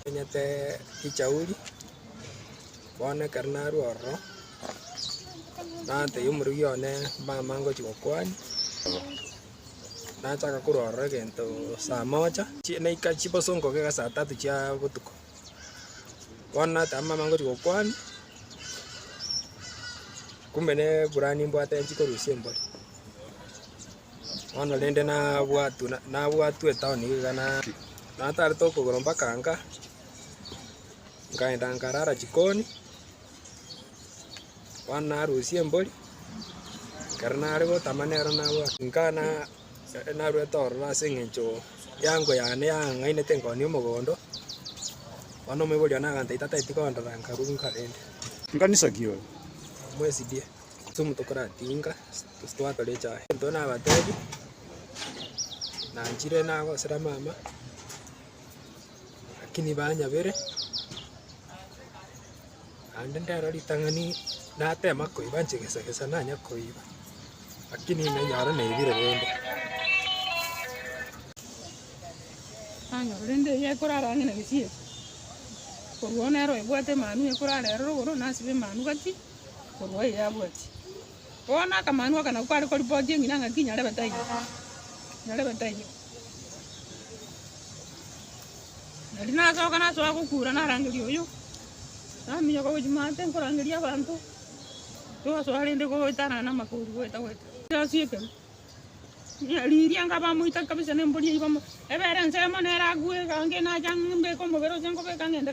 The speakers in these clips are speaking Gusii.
Omenyete echauri, bono ekero narue ororo, natebia omorweki one mama ngochia gokwania, nachaka korwa ororo egento saa moja, naika chiboso ngokiga saa tatu chia botuko. Bono natama mama ngochi gokwana, kumbe ne eburani mbwate nchikorusia embori. Bono rende nabwatu nabwatu etown iga na natarete okogoro mpaka nka, nkaenda nkarara chikoni, bono narusia embori, ekero nare gotama nero nabwate nka na. Nere narwete ororo ase engencho y'eango yane yang'ang'ainete nkoonia omogondo, bono omoibi oria nagantaita tataeti kondora, nkaruuka rende. Nkanisa ki oyo? Mwesidie, chitumu tokoratinga, gose twatore echae. Intwe nabateebie, Nanchire nagosera mama, lakini banyabere. Naende ndero ritang'ani natema koiba inche gesa gesa nanya koiba, lakini nenyore naibire rende. Nanyora rende eria ekorara ang'e na gesieri. Korwa oo nere oyobwate emanu ekorara ere rogoro, nasibe emanu gati korwa eye abwati. Bono akamanu aka nako kare koripoti eng'ina ng'aki nyarebe taiyo, nyarebe taiyo. Nario nasoka nasoa gokura narangeria oyio, naminyoka gochia maate nkorangeria abanto, togasoa rende goetanana na amakouru goeta goeta. Egasi ekero riria nkaba moita kabisa na embori eyio bamo- ebere ensemo nere agwo iga ange nacha mbeke omobere ase nkobeka ng'ende.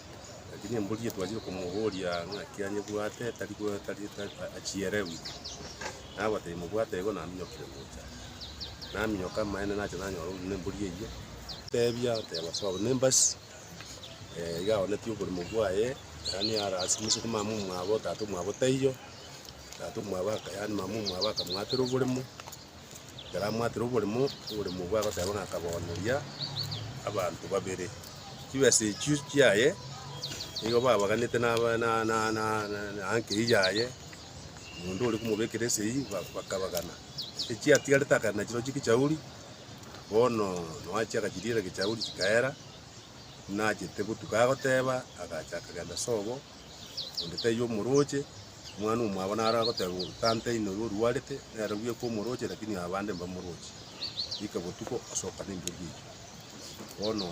Lakini embori eye twachire komoboria ng'aki anyebwate tari go tari tari achierewu, nabatebi mobwate igo naminyokire gocha. Naminyoka amaene nacha nanyora orure na embori eyio, tebia oteba sawa buna embasi iga aoneti oborimo bwaye, yaani ara ase omosuku mama omwabo tata omwabo taiyo, tata omwabo aka yaani mama omwabo akamwatera oboremo. Ekero amwatire oborimo, oborimo obwo agoteba ng'a akabooneria abanto babere. Chibesa echio chiaye nigo babaganete na na- na- na- na- na- na ankei yaye, omonto ore komobekera esegi ba- bakabagana. Echiatigarete akagenda nachio chiria gechauri, bono noo achia agachiriera gechauri chikaera, nachete gotuka agoteba, agacha akagenda sobo. onde taiyo omorooche, omwana omwabo naro agoteba bono, tanta oino oyo orwarete, nere bweka omorooche lakini abande mbamoroochie. Rika botuko osoka na endiogi eyio. Bono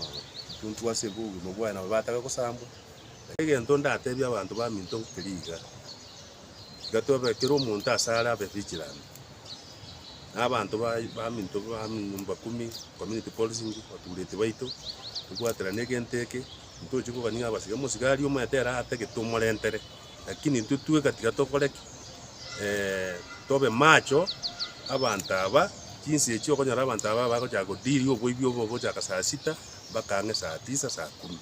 intwe intwe ase obogima bwaye nabo bataka gosambwa. Egento ndatebie abanto baminto nkeri iga, iga tobe kera omonto ase are abe vigilant, na abanto baye baminto bamanyomba kumi, community policing, batureti baito, tobwaterane egento eke. Ntochie kogania abasike, omosigari omanyete ere atagete tomorentere, lakini intwe tweka tiga tokore ki? tobe macho abanto aba, chinsa echio okonyora abanto aba bagochaka go deal oboibi obo ogochaka saa sita mpaka ang'e saa tisa, saa kumi.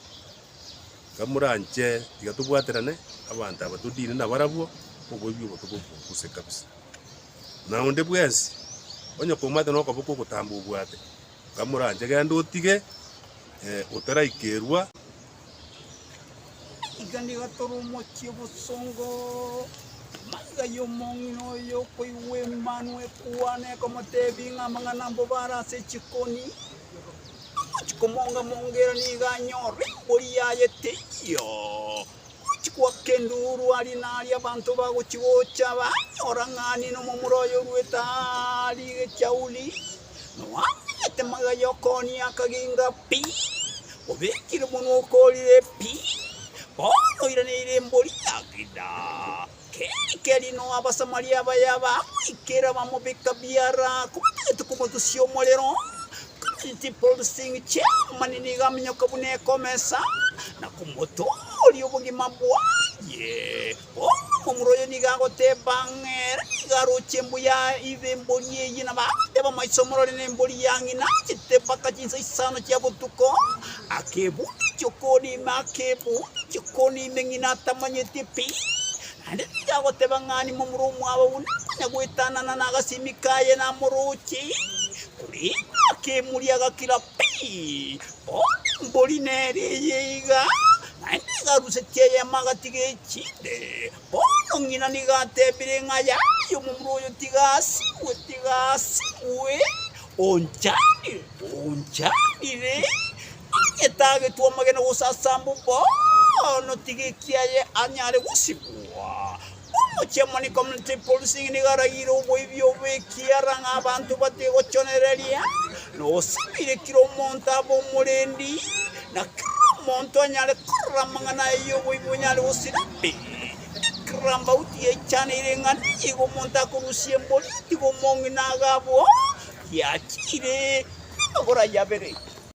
Iga moranche tiga tobwaterane abanto aba to deal nabarabwo, oboibi obo tobobogose kabisa. Na onde bwensi, onye komanyete nokoboko ogotamba obwate. Ngamoranche, Genda otige, otaraikerwa. Iga nigo tore omochie bosongo. Maiga y'omong'ina oyo okoigwa Emanu ekwana, ekomotebia ng'a amang'ana ambo bare ase echikoni, omochi komonga-monga ere nigo anyore embori yaye teiyo. Gochikwa kenduru aria naria abanto bagochigocha, banyora ng'a niina omomura oye oruete aria egechauni, nowamenyete magega y'okooni akaginga pi, obekire monwa okoorire pi, bono oiraneire embori ya Juda. Keri-keri no Abasamaria abaya bamoikera bamobeka biara kobatagete komotusia omorero, kabere chipulsing chi'Abamanini igaminyoka buna ekomesa, na komotooria obogima bwaye. Omomura oyo nigo agoteba ng'a ere nigo aroche embuya y'embori eye, na bagoteba amaiso morore nembori ya ng'ina achete mpaka chinsa isano chia botuko, Akebundikia okore ime, akebundikia okore ime, ng'ina atamanyeti pi, naende tiga agoteba ng'a ane momura omwabo onde konya goetanana nagasimi kaye namoroche, korende akemuria agakira pi, bono embori nere eye iga, naende egaruseti eyemo agatiga echinde. Bono ng'ina nigo atebire ng'a Yaye, omomura oyo tigaasigwe, tigaasigwe, onchanire, onchanire, onye tagetwa amagena gose ase amo bono tiga ekiaye anyare gosigwa. Omochie-omonike omonene Tibursi nigo aragire oboibi obo ekiagera ng'a abanto batige gochonereria. Nosibire kera omonto abe omorendi, na kera omonto anyare korora amang'ana aye y'oboibi onyare gosira pi. Ekerambauti yaichanire ng'a nigo omonto akorusia emborio, nigo omong'ina agabwo, yachiire amagoro aye abere.